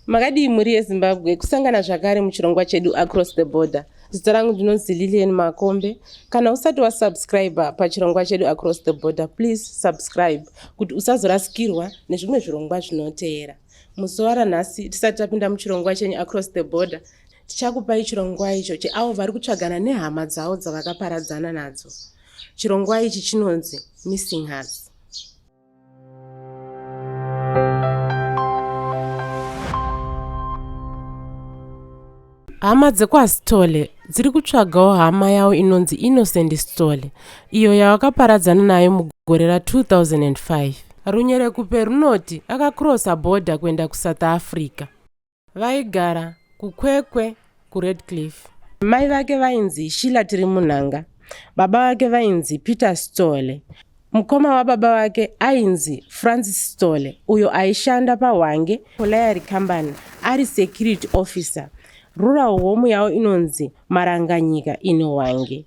Makadii mhuri yeZimbabwe kusangana zvakare muchirongwa chedu Across the Border. Zita rangu ndinonzi Lilian Makombe. Kana usati wasubscriber pachirongwa chedu Across the Border, please subscribe kuti usazorasikirwa nezvimwe zvirongwa zvinoteera. Muzuva ranhasi tisati tapinda muchirongwa chenyu Across the Border, tichakupai chirongwa icho cheavo vari kutsvagana nehama dzavo dzavakaparadzana nadzo. Chirongwa ichi chinonzi Missing Hearts. hama dzekwasitole dziri kutsvagawo hama yavo inonzi innocent sitole iyo yavakaparadzana nayo mugore ra 2005 runyerekupe runoti akakirosa bhodha kuenda kusouth africa Vaigara kuKwekwe, kuRedcliff. Mai vake vainzi Sheila Tirimunhanga. Baba vake vainzi Peter Sithole. Mukoma wababa vake ainzi Francis Sithole uyo aishanda paHwange Colliery Company ari security officer. Rural home yavo inonzi Maranganyika in Hwange.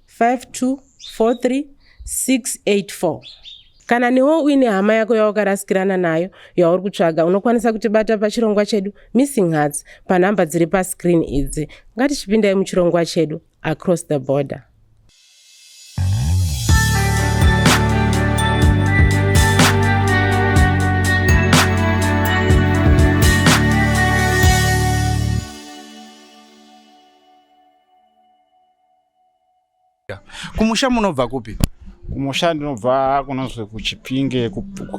5243684 kana newo uine hama yako yawakarasikirana nayo yauri kutsvaga unokwanisa kutibata pachirongwa chedu missing hearts panhamba dziri pascreen idzi ngatichipindai muchirongwa chedu across the border Kumusha munobva kupi? Kumusha ndinobva kunonzwe kuChipinge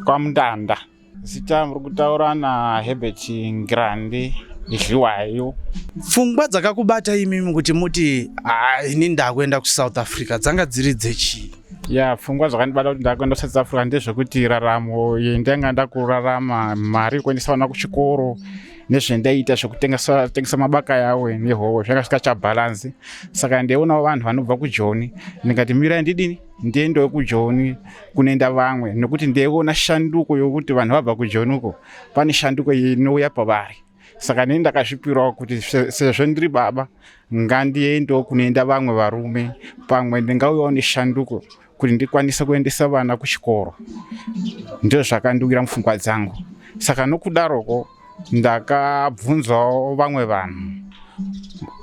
kwaMndanda. Zita muri kutaura naHerbert Ngrandi idliwayo. Pfungwa dzakakubata imimi kuti muti ah, ini ndakuenda kuSouth Africa dzanga dziri dzechii? ya pfungwa zvakandibata kuti ndakuenda kusouth africa ndezvekuti raramo yendanga ndakurarama mari kuendesa vana kuchikoro nezvendaiita zvekutengesa tengesa mabaka yawo nehowo zvanga zvisikachabalansi saka ndaionawo vanhu vanobva kujoni ndikati mirai ndidini ndiendewo kujoni kunoenda vamwe nekuti ndaiona shanduko yokuti vanhu vabva kujoni uko pane shanduko inouya pavari saka neni ndakazvipirawo kuti sezvo ndiri baba ngandiendewo kunoenda vamwe varume pamwe ndingauyawo neshanduko kuti ndikwanise kuendesa vana kuchikoro ndizvo zvakandiwira mupfungwa dzangu saka nokudaroko ndakabvunzawo vamwe vanhu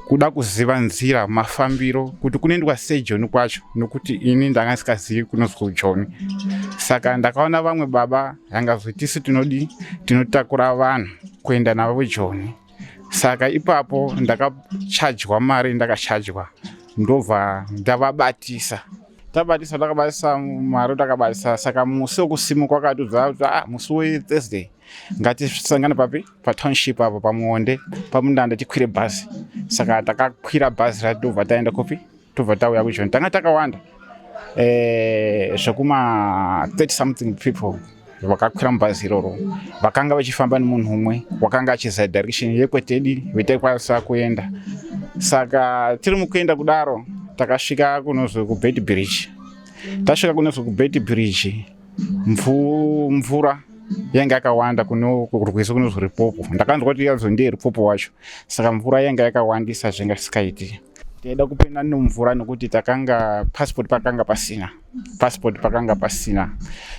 kuda kuziva nzira mafambiro kuti kunoendwa sejoni kwacho nokuti ini ndanga ndisikazivi kunonzwa kujoni saka ndakaona vamwe baba yanga zvotisu tinodi tinotakura vanhu kuenda navo joni saka ipapo ndakachajwa mari ndakachajwa ndobva ndavabatisa tabatisa takabatisa mari takabatisa saka musi wekusimuka wakatudza kuti ah, musi wethursday ngatisangane papi patownship apo pamuonde pamundanda tikwire bhazi saka takakwira bhazi ratobva taenda kupi tobva tauya kujoni tanga takawanda eh, zvekuma 30 something people vakakwira mubhazi iroro vakanga vachifamba nemunhu umwe wakanga achiziva direction yekwetedi vetaikwanisa kuenda saka tiri mukuenda kudaro takasvika kunozwe kubed bridge tasvika kunozwe kubed bridge mvura yanga yakawanda kurwizi kunozwe ripopo ndakanzwa kuti yazondiye ripopo wacho saka mvura yanga yakawandisa zvenga sikaiti taida kupinda nomvura nokuti takanga passport pakanga pasina passport pakanga pasina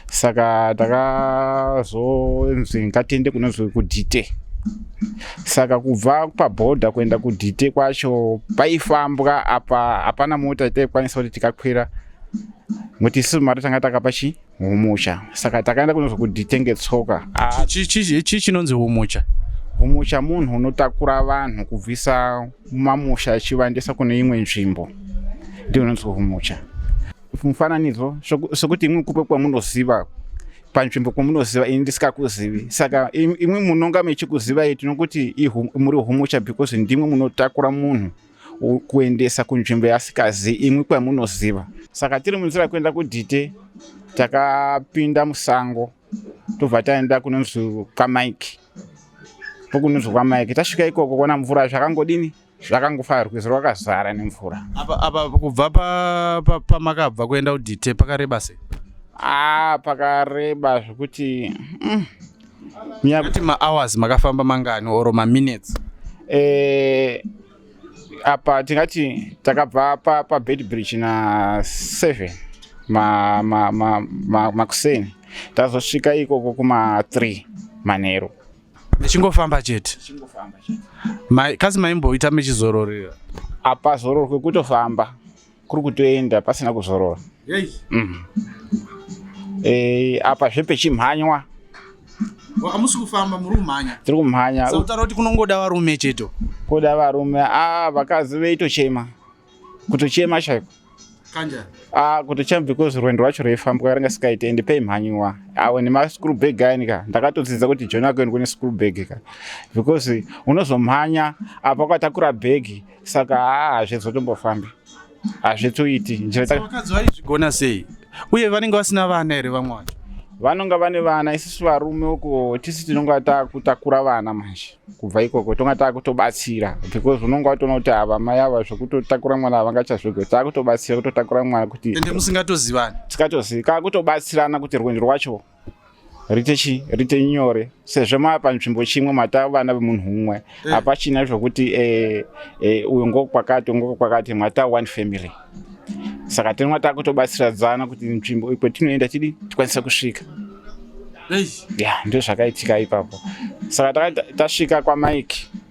saka takazonzi ngatiende kunonzi kudite saka kubva pabhodha kuenda kudite kwacho paifambwa apa hapana mota taikwanisa kuti tikakwira nokuti isusu mari tanga takapa chii humucha saka takaenda kunonzi kuti titenge tsoka ah. chii chinonzi humucha humucha munhu unotakura vanhu kubvisa mamusha achivaendesa kune imwe nzvimbo ndio unonzi humucha mufananidzo sokuti imwe kupe kwamunoziva panzvimbo kwamunoziva ini ndisikakuzivi saka imwe munonga mechikuzivai tinokuti muri humucha because ndimwe munotakura munhu kuendesa kunzvimbo yasikazi imwe kwamunoziva saka tiri munzira kuenda kudite takapinda musango tobva taenda kunonzi kwamaiki pokunonzi kwamaiki tasvika ikoko kuona mvura zvakangodini zvakangofa rwizi rwakazara nemvura apa kubva pamakabva pa, pa kuenda kudite pakareba se ah pakareba zvekuti mm. Kuti mahours makafamba mangani or maminutes? Eh, apa tingati takabva pa, pa bed bridge na 7 ma, ma, ma, ma, makuseni tazosvika ikoko kuma 3 manheru ndichingofamba chete kasi maimboita mechizororera apa zororwe kutofamba kuri kutoenda pasina kuzorora mm. eh, apa zvepechimhanywa amusi kufamba muri kumhanya tiri kumhanya sautaura kuti kunongoda varume cheto kuda varume a vakadzi veitochema kutochema chaiko kanja a kutochema because rwendo rwacho rweifambwa ranga sikaite ende peimhanyiwa awo nemaschool bag aini ka ndakatodzidza kuti joni akuendi kune school bag ka because unozomhanya apa kwatakura bhegi saka haa hazvizotombofambi hazvitoiti vakadzi vaizvigona sei uye vanenge vasina vana here vamwe vacho vanonga vane vana isusu varume uko tisu tinonga takutakura vana manje kubva ikoko tonga takutobatsira because unonga watoona kuti ava mai ava zvekutotakura mwana havangachazvigwe takutobatsira kutotakura mwana kuti ende musingatozivani tikatozivi kakutobatsirana kuti rwendo rwacho rite chi rite nyore sezvo mava panzvimbo chimwe mata vana vemunhu umwe eh. hapachina zvokuti eh, eh, uyo ngokwakati uyo ngokwakati mata one family saka tinonga takutobatsiradzana kuti nzvimbo kwetinoenda tidi tikwanise kusvika ya ndozvakaitika ipapo saka tasvika kwamike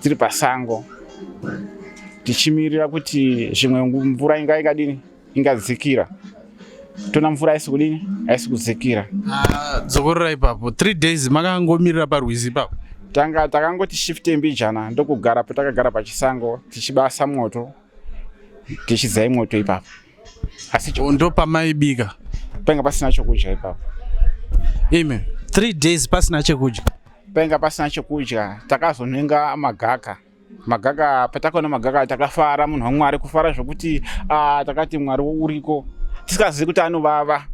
tiri pasango tichimirira kuti zvimwe mvura inga ikadini ingadzikira tona mvura aisi kudini aisi kudzikira ah, dzokorora ipapo three days makangomirira parwizi ipapo tanga takangoti shift mbijana ndokugara patakagara pachisango tichibasa moto tichidzai moto ipapo asi chokudya. ndo pamaibika panga pasina chokudya ipapo imi three days pasina chekudya panga pasina chokudya takazonhenga magaka magaka patakaona magaka takafara munhu wamwari kufara zvekuti ah, takati mwari uriko tisikazivi kuti anovava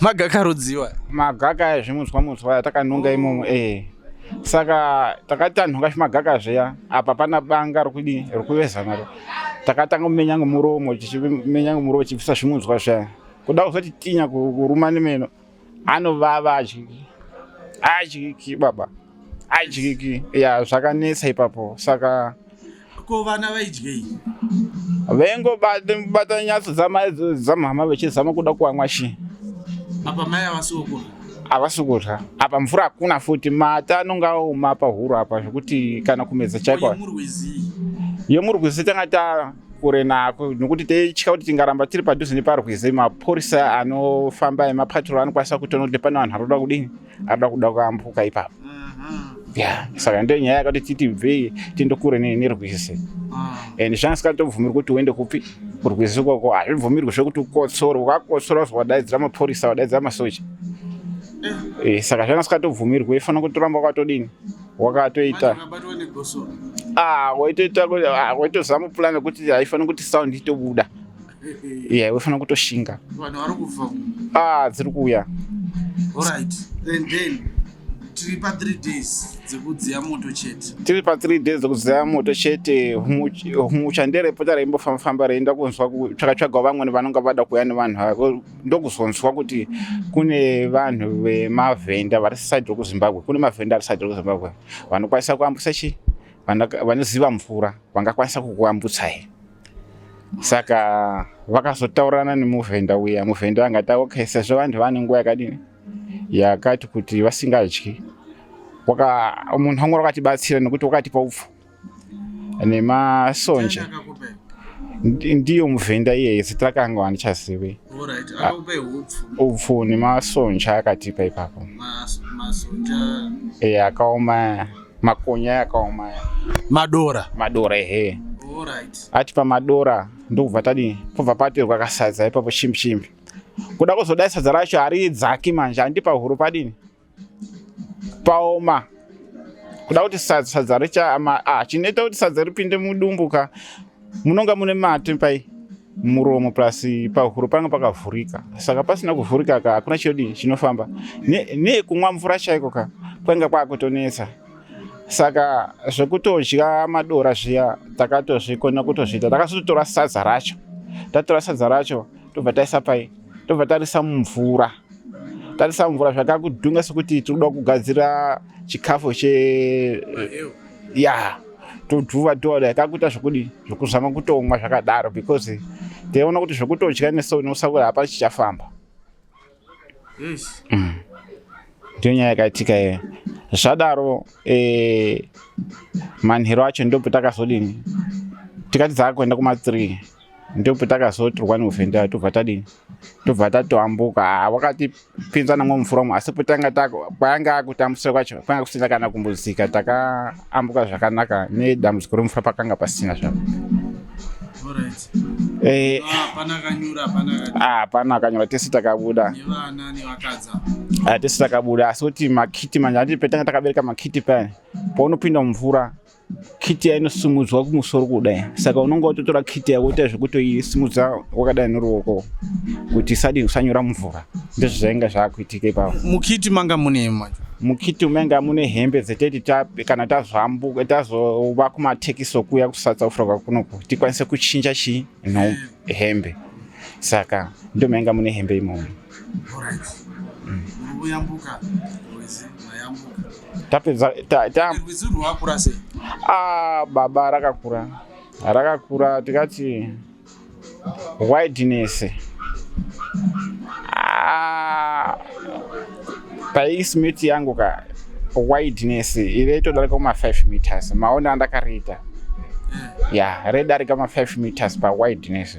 magaka rudziwa magaka ezvimunzwa munzwa aya takanhonga imomo eh saka takati tanhonga zvimagaka zviya apa pana banga rokudii rokuveza naro takatanga kumenya ngomuromo tichimenya ngomuromo tichibvisa zvimunzwa zvaya kuda kuzoti tinya kuruma nemeno anovava adyiki adyiki baba adyiki ya zvakanetsa ipapo saka ko vana vaidyei vengobata nyatso dzamai dzamhama vechizama kuda kuamwa chii apa mai avasiwo kuno havasi kudya apa mvura hakuna futi mata anonge aoma pahuru apa zvekuti kana kumedza chaiko yemurwizi tanga ta kure nako nokuti teitya kuti tingaramba tiri padhuze neparwizi mapurisa anofamba emapatrol anokwanisa kutoona kuti pane vanhu anoda kudini anoda kuda kuambuka ipapo yeah. saka ndiyo nyaya yakati titi bvei tiende kure nerwizi ah. and zvanga sikatobvumirwi kuti uende kupi kurwizi ikoko hazvibvumirwi zvekuti ukotsoro ukakotsora wadaidzira mapurisa wadaidzira masoja eh. eh, saka zvanga sikatobvumirwi ifanira kuti uramba wakatodini wakatoita ah, waitoita ah, waitozama pulani kuti haifanira kuti sound itobuda yeah wefana kutoshinga vanhu vari kufa ah dziri kuuya alright and then tiri pa 3 days dzekudziya moto chete tiri pa 3 days dzekudziya moto chete humucha nderepota reimbofamba famba reienda kunzwa kutsvaka tsvaga vamwe vanonga vada kuuya nevanhu ava ndokuzonzwa kuti kune vanhu vemavhenda vari side rekuzimbabwe kune mavhenda ari side rekuzimbabwe vanokwanisa kuambisa chii vanoziva mvura vangakwanisa kukuambutsa here saka vakazotaurirana nemuvhenda uya muvhenda angati okay sezvo vanhu vane nguva yakadini yakati kuti vasingadyi munhu wamwari wakatibatsira nekuti wakatipa upfu nemasonje ndiyo muvhenda iyeye zita rake anga handichazivi ah, upfu nemasonja akatipa ipapo e akaoma makonya yakaoma aya madora madora ehe Alright. ati pamadora ndokubva tadi pobva patirwa kasadza ipapo chimbi chimbi kuda kuzodai sadza racho haridzaki manje handi pahuro padini paoma kuda kuti sa- sadza richa ama- ah, chinoita kuti sadza ripinde mudumbu ka munonga mune mate pai muromo plus pahuro panga pakavhurika saka pasina kuvhurika ka hakuna chinodii chinofamba nekumwa ne mvura chaiko ka kwanga kwakutonetsa saka zvekutodya madora zviya takatozvikona kutozviita takazototora sadza racho tatora sadza racho tobva taisa pai tobva tarisa mumvura tarisa mumvura zvakakudhunga sekuti tiri kuda kugadzira chikafu che ya todhuva toda takuita zvekudii zvekuzama kutomwa zvakadaro because taiona kuti zvekutodya neso inosakura hapana chichafamba mm. ndiyo nyaya yakaitika iye zvadaro eh, manhero acho ndopo takazodini tikati dzaakuenda kuma three ndopo takazotorwa neuvhenda tobva tadii tobva tatoambuka ah, wakatipinza namwe mufuromo asi kutanga kwayanga akutambusira kwacho kwanga kusina kana kumbuzika takaambuka zvakanaka nedambudziko remufa pakanga pasina zvako eh, ah, hapana akanyura tese takabuda ah, tese takabuda asi kuti makiti manje ati petanga takabereka makiti payani paunopinda mumvura kiti iya inosimudzwa kumusoro kudai saka unonga utotora kiti yako uita zvekutoisimudza wakadai neruoko kuti isadini usanyura mvura ndizvo zvainga zvakuitika ipapo mukiti manga mune mukiti umenga mune hembe dzeteti kana tazvambuka tazova kumatekisi okuya kusatsa kufura kwakunoku tikwanise kuchinja chi no hembe saka ndomenga mune hembe imomo mm. tapedza rwizi rwakura sei ah baba rakakura rakakura tikati wideness ah, paismit yangu ka wideness iritodarika kuma 5 meters maona andakariita eh. ya redarika ma 5 meters pa wideness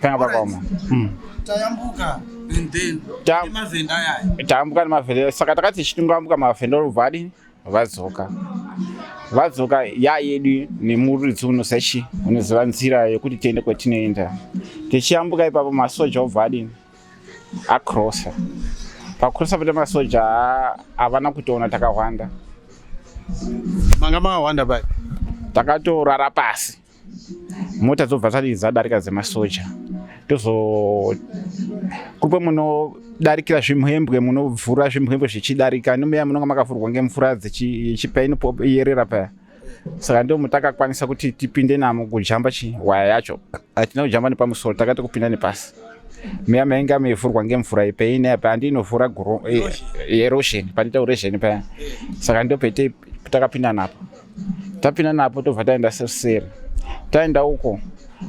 Panga pakaoma. Mm. Tayambuka and then Ta mavhenda aya. Tayambuka nemavhenda saka takati chitingoyambuka mavhenda orobva adini vadzoka vadzoka ya yedu nemuridzi unoziva chi unoziva nzira yekuti tiende kwatinoenda tichiyambuka ipapo masoja obva adini acrossa pacrossa pata masoja havana kutoona takahwanda manga mahwanda pai takatorara pasi mota dzobva dzati dzadarika dzemasoja tozo kupe munodarikira zvimhembwe munovhura zvimhembwe zvichidarika nomeya munonga makavhurwa ngemvura dzichipa inoyerera paya saka ndo mutakakwanisa kuti tipinde namo kujamba chi waya yacho hatina kujamba nepamusoro takati kupinda nepasi meya mainge ameivhurwa ngemvura ipeine apa handi inovhura guru eh, yerosheni panoita uresheni paya saka ndo pete takapinda napo tapinda napo tobva taenda seseri taenda uko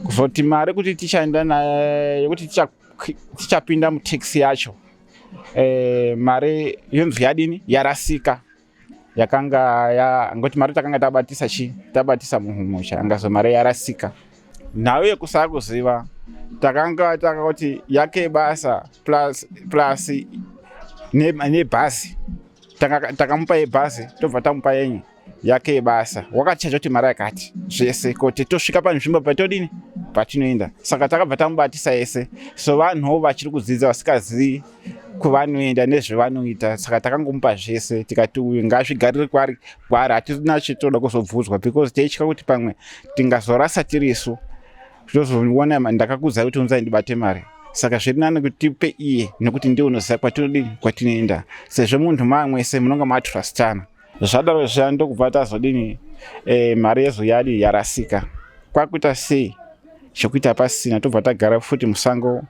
kuzoti mari kuti tichaenda nayo yekuti tichapinda mutaxi yacho e, mari yonzi yadini yarasika yakanga ya ngoti mari takanga tabatisa chi tabatisa munhu musha angazo mari yarasika nhau yekusava kuziva takanga takati yake basa plus plus nebhasi ne takamupa yebhazi tobva tamupa yenyu yake yebasa wakachaja kuti mari yakati zvese kuti tosvika panzvimbo patodini patinoenda saka takabva tamubatisa yese so vanhuwo vachiri kudzidza vasikazivi kwavanoenda nezvevanoita saka takangomupa zvese tikati uyu ngazvigarire kwari kwari hatina chitoda kuzobvunzwa because taitya kuti pamwe tingazorasa tirisu zvozoona ndakakuza kuti unzai ndibate mari saka zviri nani kuti tipe iye nekuti ndiye unoziva kwatinodii kwatinoenda sezvo munhu maamwese munonga matrustana zvadaro zviya ndokubva tazodini e, mari yezo yadi yarasika kwakuita sei chekuita pasina tobva tagara futi musango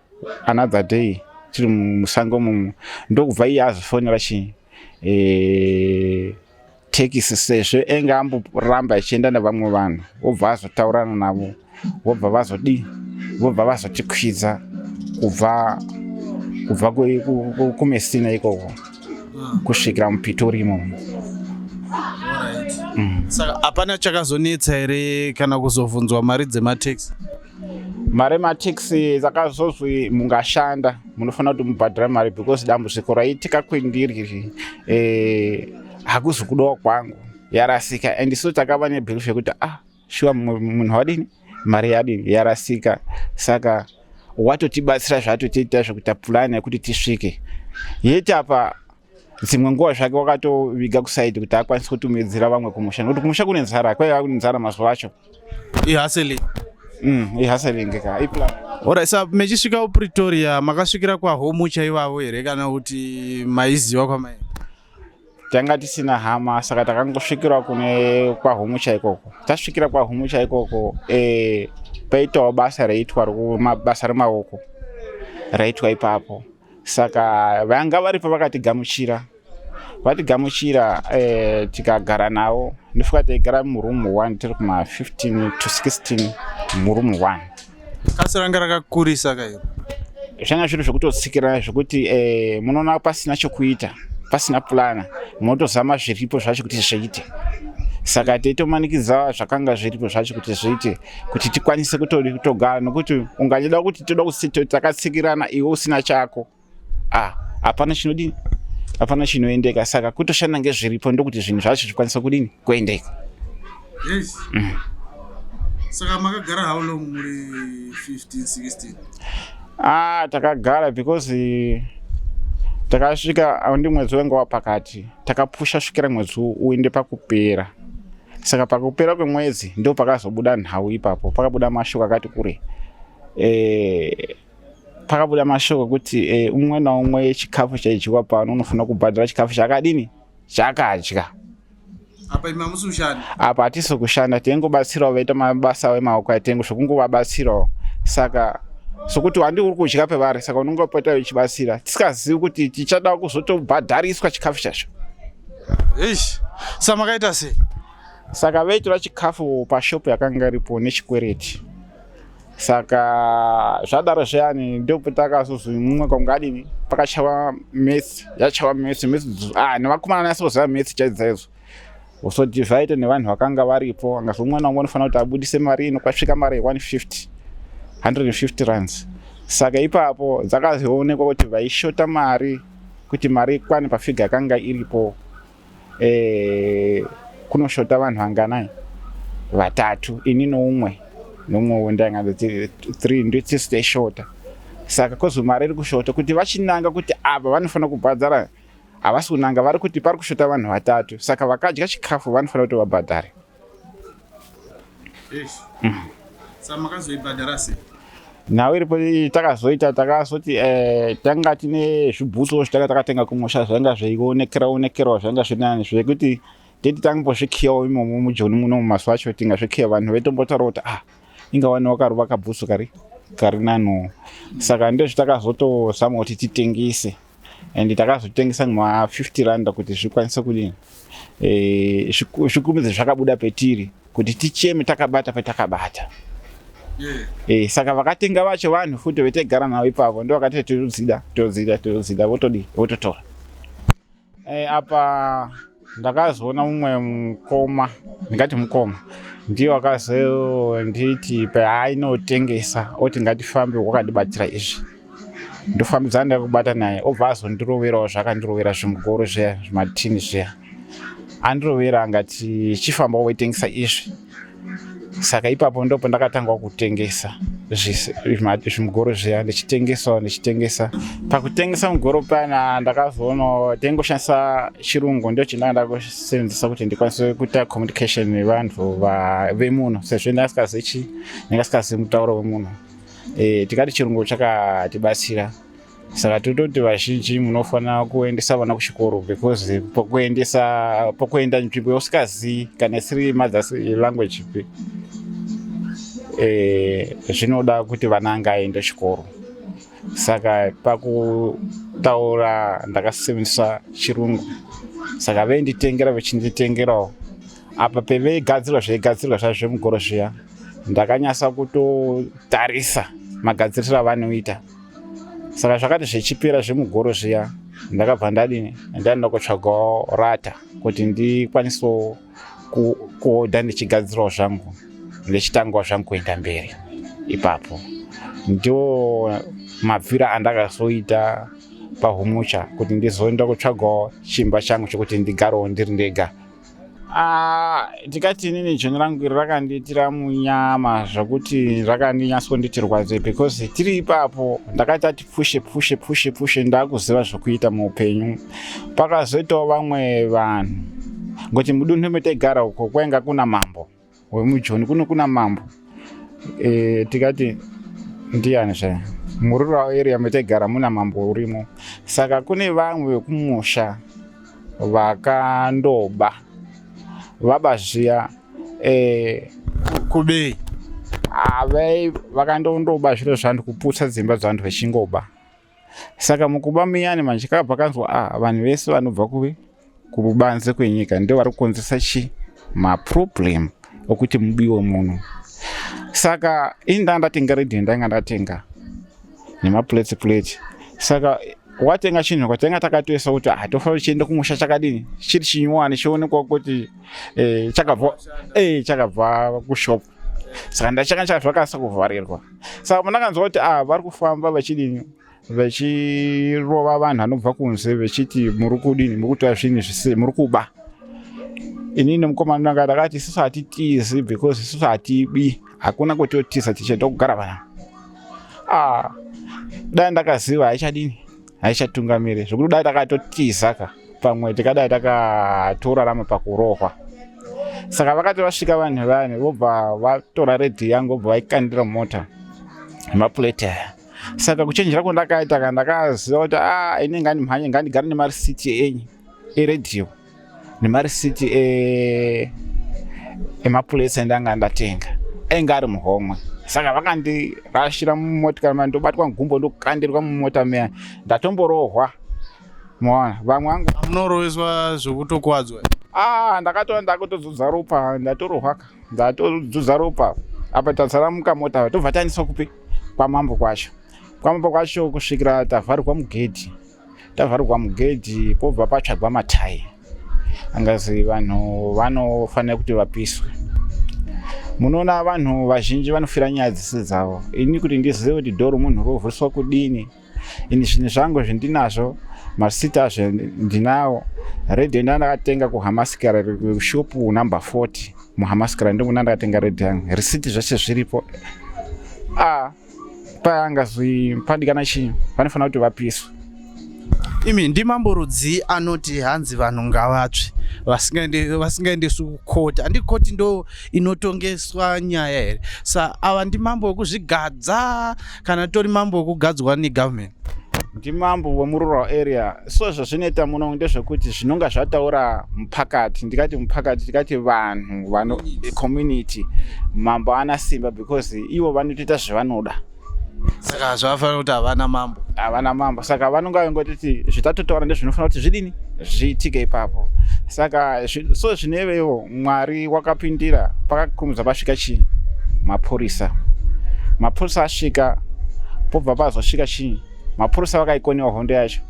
another day tiri musango mumu ndokubva iye azofonera chii e, tekisi sezvo enge amboramba achienda nevamwe vanhu vobva azotaurana navo vobva vazodii vobva vazotikwidza kubva kubva kumesina ikoko kusvikira mupitori imomo mm. saka hapana chakazonetsa here kana kuzobvunzwa mari dzemateksi mari emateksi dzakazozwi mungashanda munofanira kuti mubhadhara mari because dambudziko raitika kwendiri eh, hakuzi kudawo kwangu yarasika and so takava nebelief yekuti ah shuwa munhu wadini mari yadini yarasika saka watotibatsira zvaatotiita zvekuita pulani yekuti tisvike yeti apa dzimwe nguva zvake wakatoviga kusaidi kuti akwanise kutumidzira vamwe kumusha nokuti kumusha kune nzara kwaiva kune nzara mazuva acho ihaseli mm, ihaselinge ka iplan orit sa mechisvika kupretoria makasvikira kwahomucha ivavo here kana kuti maiziva kwamai tanga tisina hama saka takangosvikira kune kwahumucha ikoko tasvikira kwahumucha ikoko e, paitawo basa raitwa basa remaoko raitwa ipapo saka vanga vari pavakatigamuchira vatigamuchira e, tikagara navo ndifuka taigara muroom one tiri kuma 15 to 16 muroom one kasi ranga rakakurisa ka iro zvanga zviri zvekutotsikira zvekuti eh, munoona pasina chokuita pasina pulana munotozama zviripo zvacho kuti zviite saka taitomanikidza zvakanga zviripo zvacho kuti zviite kuti tikwanise kutogara nokuti unganyida kuti toda takatsikirana iwe usina chako ah hapana chinodini hapana chinoendeka saka kutoshanda ngezviripo ndokuti zvinhu zvacho zvikwanisa kudini kuendeka yes. mm. saka makagara how long muri 1516 ah takagara because takasvika aundi mwedzi wenge wapakati takapusha svikira mwedzi uende pakupera saka pakupera kwemwedzi ndo pakazobuda nhau ipapo pakabuda mashoko akati kure e, pakabuda mashoko ekuti eh, umwe naumwe chikafu chaidyiwa pano unofanira kubhadhara chikafu chakadini chakadya apa hatisi kushanda tingobatsirawo vaita mabasa emaoko atengo zvokungovabatsirawo saka sokuti wandi uri kudya pevari saka unenge wapota uchibatsira tisikazivi kuti tichada kuzotobhadhariswa chikafu chacho eish sa makaita sei saka vaitora chikafu pashopu yakanga iripo nechikwereti saka zvadaro zviyani ndopatakazozi mumwe kwaungadini pakachawa mesi yachawa mesi mesi ah, nevakomana nasoziva mesi chaidzaidzo so divided nevanhu vakanga varipo ngazi umwe naumwe anofanira kuti abudise mari ino kwasvika mari ye150 150 runs saka ipapo dzakazoonekwa kuti vaishota mari kuti mari ikwane pafiga yakanga iripo eh, kunoshota vanhu vanganai vatatu ini noumwe nomwe wondanga ndoti three ndotisi taishota saka kozi mari iri kushota kuti vachinanga kuti ava vanofanira kubhadhara havasi kunanga vari kuti pari kushota vanhu vatatu saka vakadya chikafu vanofanira kuti vabhadhare nhau iripo takazoita takazoti eh, tanga tine zvibhutso zvitanga takatenga kumusha zvainga zveionekera onekerwa zvainga zvinani zvekuti titi tangimbozvikiyawo imomo mujoni muno mumazuva acho tinga zvikiya vanhu vetombotaura kuti ah inga wani wakarova kabhutso kari kari nano saka ndozvitakazotozama kuti titengese and takazotengesa ma 50 rand kuti zvikwanise kudini eh, zvikumidze zvakabuda petiri kuti ticheme takabata patakabata yeah. eh, saka vakatenga vacho vanhu futi vetegara navo ipapo ndo vakati todzida todzida todzida votodii vototora eh, apa ndakazoona mumwe mukoma ndingati mukoma ndiyo akazonditi paainotengesa oti ngatifambe wakandibatira izvi ndofambidzana ndakubata naye obva azondiroverawo zvakandirovera zvimugoro zviya zvimatini zviya andirovera angati chifambawo waitengesa izvi saka ipapo ndopo ndakatangwa kutengesa zvimugoro zviya ndichitengesa ndichitengesa pakutengesa mugoro pana ndakazoonawo taingoshandisa chirungu ndio chindaa ndakusevenzesa kuti ndikwanise kuita communication nevanhu vemuno sezvo ndasikazichi ndingasikazivi mutauro wemuno e, tikati chirungu chakatibatsira saka tototi vazhinji munofanira kuendesa vana kuchikoro because pokuendesa pokuenda nzvimbo yausikazivi kana isiri mothers language ipi eh, zvinoda kuti vana anga aende chikoro saka pakutaura ndakasevenzisa chirungu saka venditengera vechinditengerawo apa pevegadzirwa zvaigadzirwa zva zvemugoro zviya ndakanyasa kutotarisa magadzirisiro avanoita saka zvakati zvichipera zvemugoro zviya ndakabva ndadini ndaenda kutsvagawo rata kuti ndikwanisewo kuodha ndichigadzirawo zvangu ndichitangawo zvangu kuenda mberi ipapo ndo mabvira andakazoita pahumucha kuti ndizoenda kutsvagawo chimba changu chekuti ndigarewo ndiri ndega Ah, tikati inini joni rangu iri rakandiitira munyama zvokuti rakandinyasonditi rwadze because tiri ipapo ndakati ati pfushe pfushe pfushe pfushe ndakuziva zvokuita muupenyu pakazoitawo vamwe vanhu ngokuti mudunhu metaigara uko kwainga kuna mambo wemujoni kuno kuna mambo e, tikati ndiyani zvayo murural area metaigara muna mambo urimo saka kune vamwe vekumusha vakandoba vaba zviya e, kubei avai vakandondoba zviro zvandikuputsa dzimba dzandu vachingoba Saka mukuba muyani manje kava pakanzwa ah, vanhu vese vanobva kuve kubanze kwenyika ndo vari kukonzesa chi maproblem okuti mubiwe munhu saka ini ndaa ndatenga radio ndainga ndatenga nemaplate plate saka watenga chinhu kwatainga takatoisa kuti hatofanira ah, chiende kumusha chakadini chiri chinyowani chionekwa kuti eh, chakabva eh, kushop saka ndachanga chaka zvakasa kuvharirwa saka pandakanzwa kuti ah vari kufamba vachidini vachirova vanhu anobva kunze vachiti muri kudini muri kuita zvinhu zvisi muri kuba ini nemukomana wanga takati isusu hatitizi because isusu hatibi hakuna kuti otiza tichada kugara vana ah dai ndakaziva haichadini haichatungamiri zvekuti dai takatotiza ka pamwe tikadai takatorarama pakurohwa saka vakati vasvika vanhu vani vobva vatora redhi yangu vobva vaikandira mota mapuleti aya saka kuchenjera kwandakaita ka ndakaziva kuti a ah, ini nganimhanye ngandigare nemarisiti enyu eredhiyo nemarisiti e, emapuresi endanga ndatenga ainge ari muhomwe saka vakandirashira mumotikari ma ndobatwa mugumbo ndokandirwa mumota meya ndatomborohwa maona vamwe vangu munorohweswa zvekutokwadzwa ah ndakatona ndakutodzudza ropa ndatorohwaka ndatodzudza ropa apa tatsara mukamota tobva taendeswa kupi kwamambo kwacho kwamambo kwacho kusvikira tavharirwa mugedhi tavharigwa mugedhi pobva patsvagwa matayi angazi vanhu vanofanira kuti vapiswe munoona vanhu vazhinji vanofira nyaya dzisi dzavo ini kuti ndizive kuti dho romunhu rovhuriswa kudini ini zvinhu zvangu zvindinazvo masita azvo ndinawo redhi yenda ndakatenga kuhamasikara kushopu number 40 muhamasikara ndikuna ndakatenga redhi yangu risiti zvese zviripo a ah. paangazi padikana chii vanofanira kuti vapiswe imi ndimambo rudzii anoti hanzi vanhu ngavatsve vasingaendeswi kukoti handi koti ndo inotongeswa nyaya here sa ava ndimambo wekuzvigadza kana tori mambo wekugadzwa negovernment ndimambo wemurural area so zvazvinoita muno ndezvekuti zvinonga zvataura mupakati ndikati mupakati ndikati vanhu vano community mambo ana simba because ivo vanotoita zvevanoda saka zvavafanira kuti havana mambo havana mambo saka vanonga vangotiti zvitatotaura ndezvinofanira kuti zvidini zviitike ipapo saka so zvinevewo Mwari wakapindira pakakurumidza pasvika chii mapurisa mapurisa asvika pobva pazosvika chii mapurisa vakaikonewa hondo yacho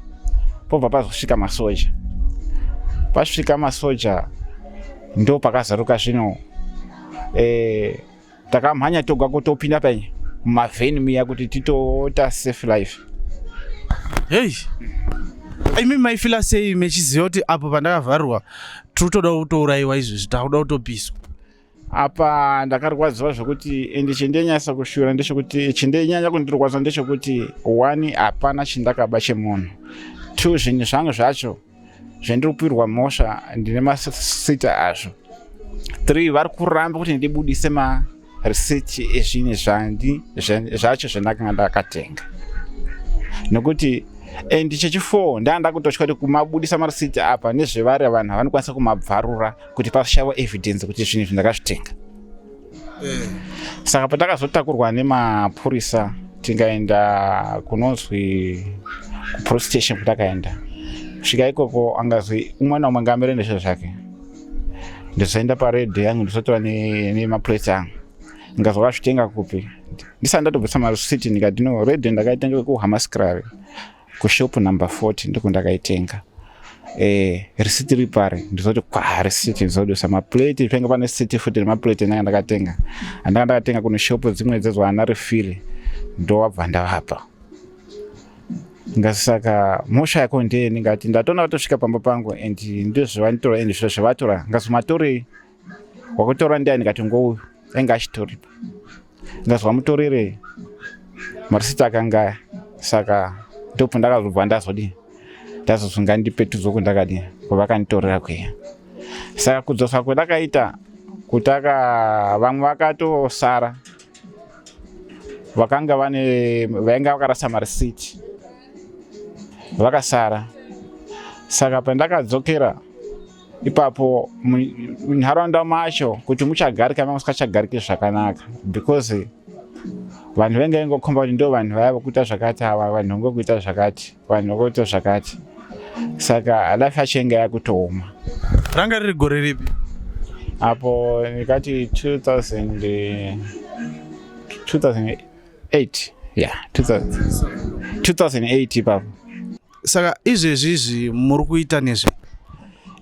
pobva pazosvika masoja pasvika masoja ndo pakazaruka zvino eh, takamhanya toga kutopinda pa mavheni muya kuti titoita safe life hei imi maifila sei mechiziva kuti apo pandakavharirwa tiri kutoda kutourayiwa izvezvi takuda kutopiswa apa ndakarwadziwa zvekuti ende chindinyanyisa kushura ndechekuti chindinyanya kundirwadza ndechekuti one hapana chindakaba chemunhu two zvinhu zvangu zvacho zvandiri kupirwa mhosva ndine masita azvo three vari kuramba kuti ndibudise marisiti ezvinhu zvandi zvacho zvandakanga ndakatenga nokuti and chechifour ndanda kutotya kuti kumabudisa marisiti apa nezvevari vanhu vanokwanisa kumabvarura kuti pashaiwa evidence kuti zvinhu izvi ndakazvitenga eh. saka patakazotakurwa nemapurisa tikaenda kunonzwi kupolice station kutakaenda svika ikoko angazi umwe naumwe ngamire nezviro zvake ndizoenda paredhi yangu ndizotora nemaplates angu ngazi wazvitenga kupi ndisati ndatobvisa marisiti ndikati no redhi ndakaitenga kuhamascrary kushop number 40 ndiko ndakaitenga eh risiti riri pari ndizoti kwa risiti ndizodosa maplate penge pane siti futi nemaplate ndanga ndakatenga andanga ndakatenga kuno shop dzimwe dzezwa ana refili ndowabva ndavapa ngasaka mhosva yako ndeye ndingati ndatoona vatosvika pamba pangu and ndozvavanitora and zviro zvavatora ngazomatorei wakutorwa ndiani ndikati ngouyu ainge achitoripo ndikazwa mutorerei marisita akangaya saka ndobva ndakazobva ndazodii ndazozunga ndipetudzwa kwendakadii kwavakanditorera kweya saka kudzosa kwendakaita kutaka vamwe vakatosara vakanga vane vainge vakarasa marisiti vakasara saka pandakadzokera ipapo munharaunda macho kuti muchagarika manga musingachagariki zvakanaka because vanhu venge vengokomba kuti ndo vanhu vaya vokuita zvakati ava vanhu ngokuita zvakati vanhu vokuita zvakati saka life yacho inge yakutooma ranga riri gore ripi apo ndikati 2000 2008 yeah 2008 ipapo saka izvezvi izvi muri kuita nezve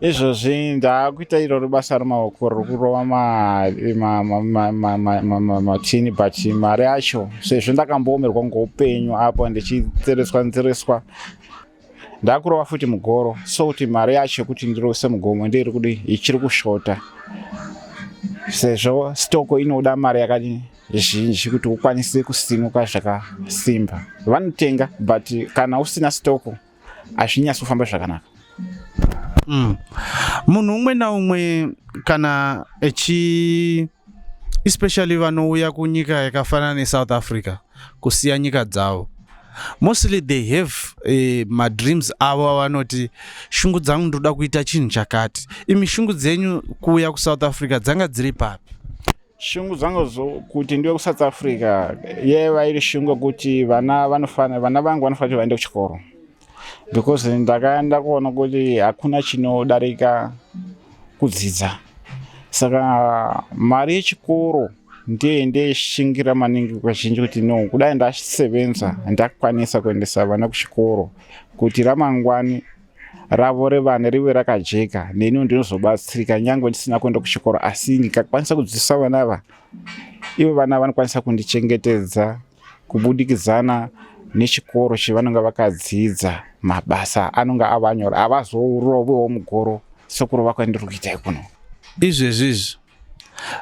izvozvi ndaakuita iroro basa remaoko rokurova matini but mari yacho sezvo ndakamboomerwa ngoupenyu apo ndichitsereswa nzereswa ndakurova futi mugoro so kuti mari yacho yekuti ndirovese mugomo ndeiri kudi ichiri kushota sezvo stoko inoda mari yakadini zhinji kuti ukwanise kusimuka zvakasimba vanotenga but kana usina stoko hazvinyasi kufamba zvakanaka mm. munhu umwe naumwe kana echi especially vanouya kunyika yakafanana nesouth africa kusiya nyika dzavo mostly they have uh, madreams avo avanoti shungu dzangu ndoda kuita chinhu chakati imi shungu dzenyu kuuya kusouth africa dzanga dziri papi shungu dzangu kuti ndiwe kusouth africa ye vairi shungu kuti vana vanofanira vana vangu vanofanira kuti vaende kuchikoro because ndakaenda kuona kuti hakuna chinodarika kudzidza saka mari yechikoro ndiye ndeyishingira maningi kazhinji kuti no kudai ndasevenza ndakwanisa kuendesa vana kuchikoro kuti ramangwani ravo revana rive rakajeka neniwo ndinozobatsirika nyange ndisina kuenda kuchikoro asi ndikakwanisa kudzidzisa vana ava ivo vana vanokwanisa kundichengetedza kubudikidzana nechikoro chevanonga vakadzidza mabasa anonga avanyora havazorovewo mugoro sekurova kwandiri kuita ikuno izvezvi izvi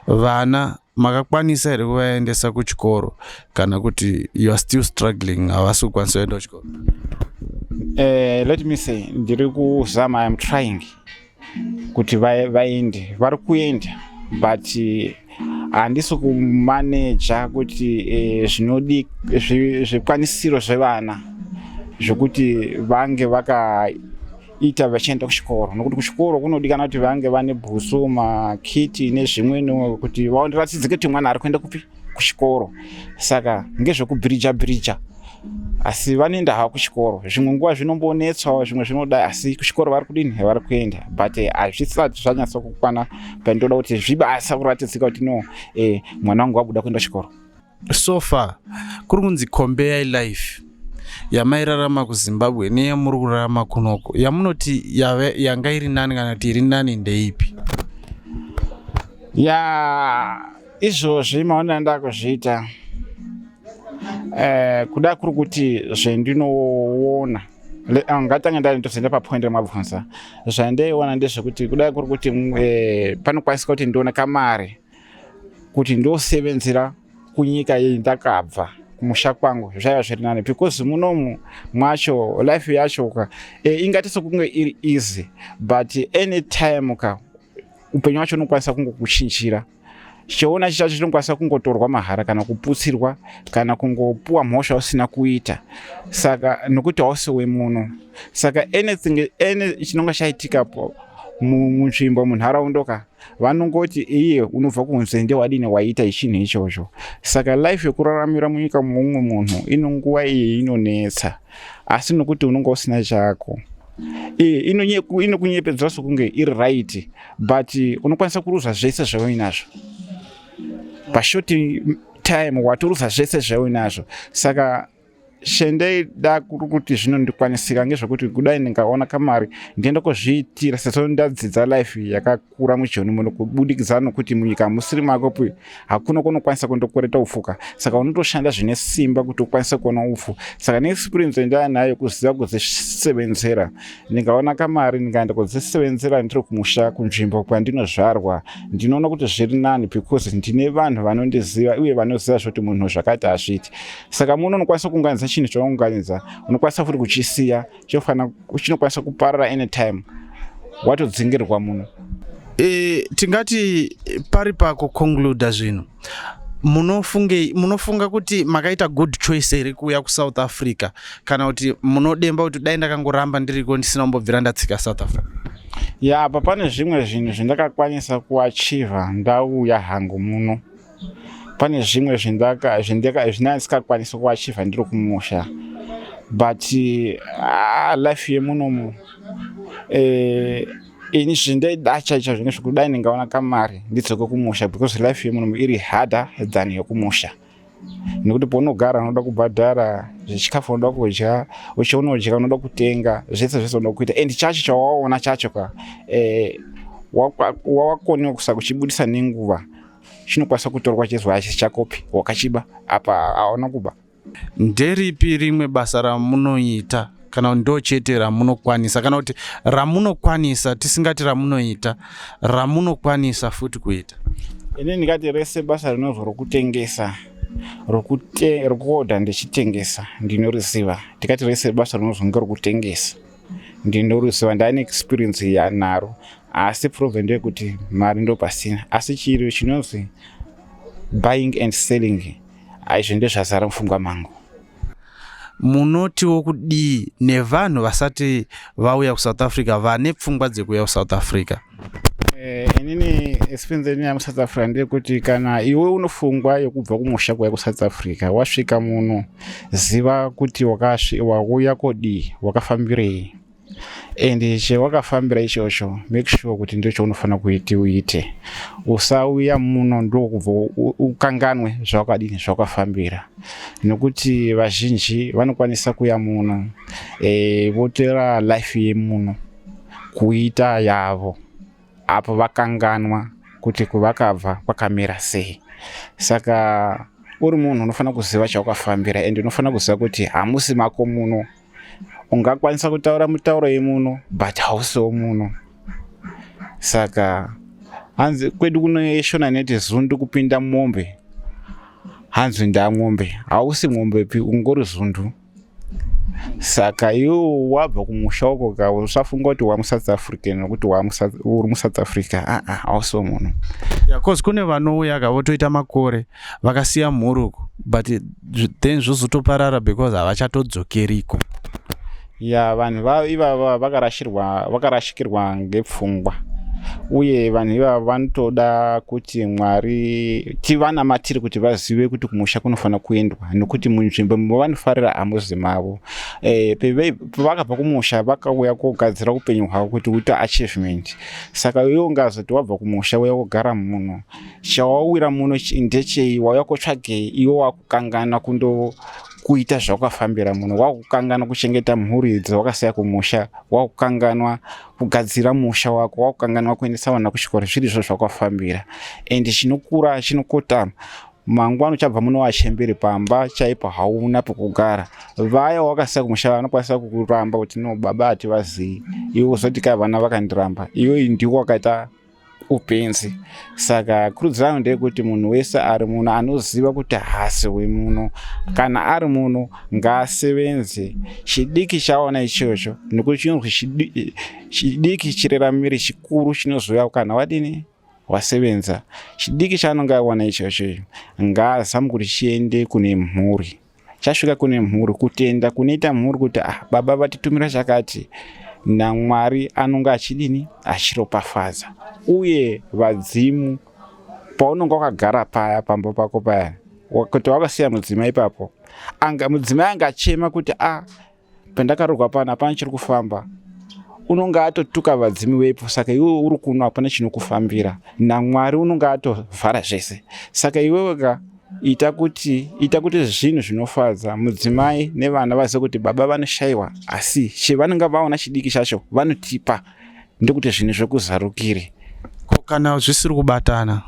Vana makakwanisa here kuvaendesa kuchikoro kana kuti you are still struggling havasi kukwanisa kuenda kuchikoro? Uh, let me say ndiri kuzama iam trying kuti vaende vari kuenda but eh, handisi uh, kumaneja kuti eh, zvinodi uh, zvikwanisiro zvevana zvekuti vange vaka ita vachienda kuchikoro nokuti kuchikoro kunodikana kuti vange vane bhusu makiti nezvimweniwo kuti varatidzike kuti mwana ari kuenda kupi kuchikoro saka ngezvekubhirija bhirija asi vanoenda havo kuchikoro zvimwe nguva zvinombonetswawo zvimwe zvinodai asi kuchikoro vari kudini vari kuenda but eh, hazvisati zvanyatsa kukwana pandoda kuti zvibasa kuratidzika kuti no eh, mwana wangu wabuda kuenda kuchikoro so far kuri kunzi compare life yamairarama kuzimbabwe neyamuri kurarama kunoko yamunoti yanga iri nani kana kuti iri nani ndeipi ya izvozvi maonera ndakuzviita eh, kuda kuri kuti zvendinoona ah, ngatange ndani ndozenda papoint remabvunza zvandaiona ndezvekuti kuda kuri kuti eh, panokwanisika kuti ndione kamari kuti ndosevenzera kunyika yei ndakabva kumusha kwangu zvaiva zviri nani because munomu mwacho life yacho ka e, eh, ingati sokunge iri easy but anytime ka upenyu hwacho unokwanisa kungokuchinjira choona chichacho chinokwanisa kungotorwa mahara kana kuputsirwa kana kungopuwa mhosva usina kuita saka nokuti hausi wemuno saka anything any chinonga chaitikapo munzvimbo munharaunda ka vanongoti iye unobva kunzende wadini waita ichinhu ichocho saka life yekuraramira munyika mumwe munhu inonguva iyi inonetsa asi nokuti unonga usina chako inokunyepedzera sokunge iri right but unokwanisa kuruza zvese zvauinazvo pashoti time watoruza zvese zvauinazvo saka shendei da kuri kuti zvinondikwanisika ngezvekuti kudai ndingaona kamari ndiende kozviitira sezvo ndadzidza life yakakura mujoni muno kubudikidza nokuti munyika hamusiri makopi hakuna kunokwanisa kundokoreta ufuka saka unotoshanda zvine simba kuti ukwanise kuona upfu saka neexperience yandava nayo kuziva kuzvisebenzera ndikaona kamari ndikaenda kudzisevenzera ndiri kumusha kunzvimbo kwandinozvarwa ndinoona kuti zviri nani because ndine vanhu vanondiziva uye vanoziva zvekuti munhu zvakati hazviiti saka muno unokwanisa kuunganidza chinhu chaunganidza unokwanisa futi kuchisiya chinofanira chinokwanisa kuparara anytime watodzingirwa muno e, tingati pari pakuconcluda zvinhu munofungei munofunga kuti makaita good choice here kuuya kusouth africa kana kuti munodemba kuti dai ndakangoramba ndiriko ndisina kumbobvira ndatsika south africa ya apa pane zvimwe zvinhu zvindakakwanisa kuachiva ndauya hangu muno pane zvimwe zvindandisingakwanisa kuachiva ndiri kumusha but uh, life yemunomu uh, eh, ini zvindaida chaicha zvinge zvekudai ndingaona kamari ndidzoke kumusha because life yemunhu iri harder than yekumusha nekuti paunogara unoda kubhadhara zvechikafu unoda kudya uchiunodya unoda kutenga zvese zvese unoda kuita and chacho chawaona chacho ka eh, wawakoniwa kusa kuchibudisa nenguva chinokwanisa kutorwa chezwa chisi chakopi wakachiba apa aona kuba Nderipi rimwe basa ramunoita kana ndo chete ramunokwanisa kana kuti ramunokwanisa tisingati ramunoita ramunokwanisa futi kuita ini ndingati rese basa rinozvo rokutengesa rokuodha ndichitengesa ndinoriziva ndikati rese basa rinozonge rokutengesa ndinoriziva ndaine experience yanaro asi prove ndeyekuti mari ndopasina asi chiro chinonzi buying and selling aizvi ndozvazara mufungwa mangu munotiwo kudii nevanhu vasati vauya kusouth africa vane pfungwa dzekuuya kusouth africa eh, inini experience yenyu yamusouth africa ndeyekuti kana iwe unofungwa yekubva kumusha kuya kusouth africa wasvika muno ziva kuti wakauya kodii wakafambirei and chewakafambira ichocho make sure kuti ndicho chaunofanira kuiti uite usauya muno ndokubva ukanganwe zvawakadini zvawakafambira nokuti vazhinji vanokwanisa kuya muno e, votora life yemuno kuita yavo apo vakanganwa kuti kuvakabva kwakamira sei saka uri munhu unofanira kuziva chawakafambira and unofanira kuziva kuti hamusi mako muno ungakwanisa kutaura mutauro yemuno but hausi womuno saka hanzi kwedu kuno yeshona neti zundu kupinda mombe hanzi ndamombe hausi mombe pi ungori zundu saka iwo wabva kumusha uko ka usafunga kuti wamusouth african nokuti uri musouth africa aa ah, ah, hausi womuno yeah, bcause kune vanouya ka votoita makore vakasiya mhuri uku but then zvozotoparara because havachatodzokeriko ya vanhu vavo ivava vakarashirwa vakarashikirwa ngepfungwa uye vanhu ivava vanotoda kuti mwari tivanamatiri kuti vazive kuti kumusha kunofanira kuendwa nokuti munzvimbo mavanofarira hamuzi mavo e, pevakabva kumusha vakauya kogadzira upenyu hwavo kuti uite achievement saka iwe ungazoti wabva kumusha uya kugara muno chawawira muno ndechei wauya kotsvagei iwe wakukangana kundo kuita zvawakafambira muno wakukanganwa kuchengeta mhuri dzawakasiya kumusha wakukanganwa kugadzira musha wako wakukanganwa kuendesa vana kuchikoro zviri izvo zvawakafambira and chinokura chinokotama mangwana uchabva muno wachemberi pamba chaipo hauna pekugara vaya wakasiya kumusha vanokwanisa kukuramba kuti no baba hativazivi iwe uzoti kai vana vakandiramba iwe ndiwo wakaita upenzi saka kurudziro yangu ndeyekuti munhu wese ari muno anoziva kuti hasi wemuno kana ari muno ngaasevenze chidiki chaona ichocho nekuti chinonzi chidiki chirera miri chikuru chinozouya kana wadini wasevenza chidiki chaanonge awana ichocho ngaazame kuti chiende kune mhuri chasvika kune mhuri kutenda kunoita mhuri kuti ah, baba vatitumira chakati namwari anonge achidini achiropafadza uye vadzimu paunonga wakagara paya pamba pako paya kuti wakasiya mudzimai ipapo anga mudzimai angachema kuti a ah, Pandakarogwa pano hapana chiri kufamba. Unonge atotuka vadzimi wepo saka iwe uri kuno hapana chinokufambira. NaMwari unonge atovhara zvese. Saka iwewe ka ita kuti ita kuti zvinhu zvinofadza mudzimai nevana vazive kuti baba vanoshaiwa asi chevanenge vaona chidiki chacho vanotipa ndokuti zvinhu zvekuzarukire. Ko kana zvisiri kubatana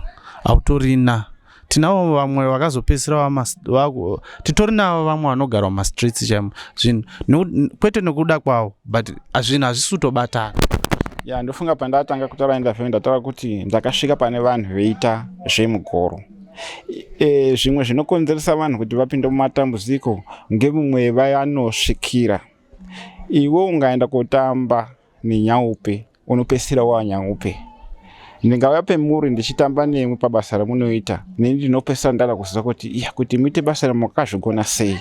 hautorina. tinavo vamwe vakazopedzisira vamasivaku titori navo vamwe vanogarwa mumastreets chaimo zvinhu kwete nokuda kwavo but zvinhu hazvisi kutobatana ya ndofunga pandatanga kutaura interview ndataura kuti ndakasvika pane vanhu veita zvemugoro e, zvimwe zvinokonzeresa vanhu kuti vapinde mumatambudziko ngemumwe vayanosvikira iwe ungaenda kotamba nenyaupe unopedzisira wanyaupe ndingauya pemuri ndichitamba nemwi pabasa ramunoita neni ndinopedzisira ndada kuziva kuti iya kuti muite basa ramakazvigona sei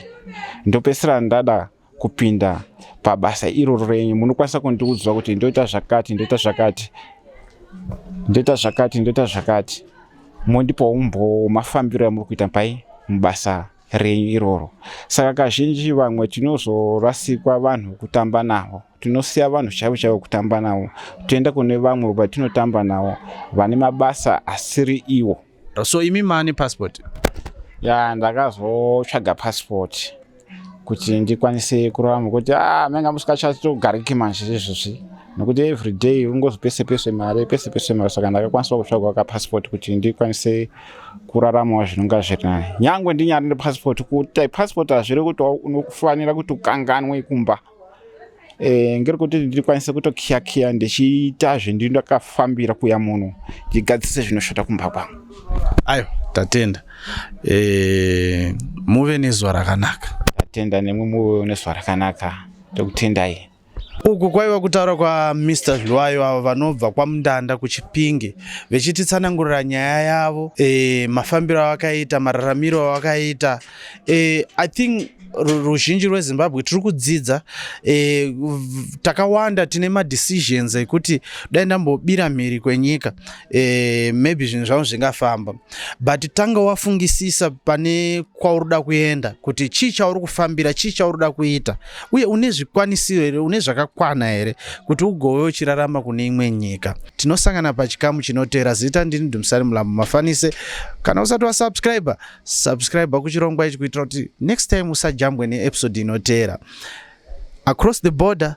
ndopedzisira ndada kupinda pabasa iroro renyu munokwanisa kundiudzwa kuti ndoita zvakati ndoita zvakati ndoita zvakati ndoita zvakati mondipa umbowo mafambiro amuri kuita pai mubasa renyu iroro saka kazhinji vamwe tinozorasikwa vanhu kutamba navo tinosiya vanhu chaivo chaivo kutamba navo toenda kune vamwe vatinotamba navo vane mabasa asiri iwo so imi maane passport ya ndakazotsvaga passport kuti ndikwanise kurova mukuti ah, manga musikachatogariki manje zvezvozvi nokuti everyday ungozopese pese mari pese pese mari saka ndakakwanisa kutsvagwa kapassport kuti ndikwanise kuraramawo zvinonga zviri nani nyangwe ndinyari nepasipoti kutai pasipoti hazviri kuti unofanira kuti ukanganwe kumba Eh, ngeri kuti ndikwanise kutokiyakiya ndichiita zvindi ndakafambira kuya muno ndigadzise zvinoshota kumba kwangu ayo tatenda eh, muve nezuva rakanaka tatenda nemwe muve nezuva rakanaka tokutendai Uku kwaiva kutaura kwaMr Zviwayo avo vanobva kwaMundanda kuChipinge vechititsanangurira nyaya yavo e, mafambiro avakaita mararamiro avakaita e, I think ruzhinji rwezimbabwe tiri kudzidza e, takawanda tine madecisions ekuti dai ndambobira mhiri kwenyika e, maybe zvinhu zvavo zvingafamba but tanga wafungisisa pane kwauri da kuenda kuti chii chauri kufambira chii chauri da kuita uye une zvikwanisiro here une zvakakwana here kuti ugove uchirarama kune imwe nyika tinosangana pachikamu chinotera zita ndini dumisari mulambo mafanise kana usati wasubscribe subscribe kuchirongwa ichi kuitira kuti next time usajambwe neepisode inotera across the border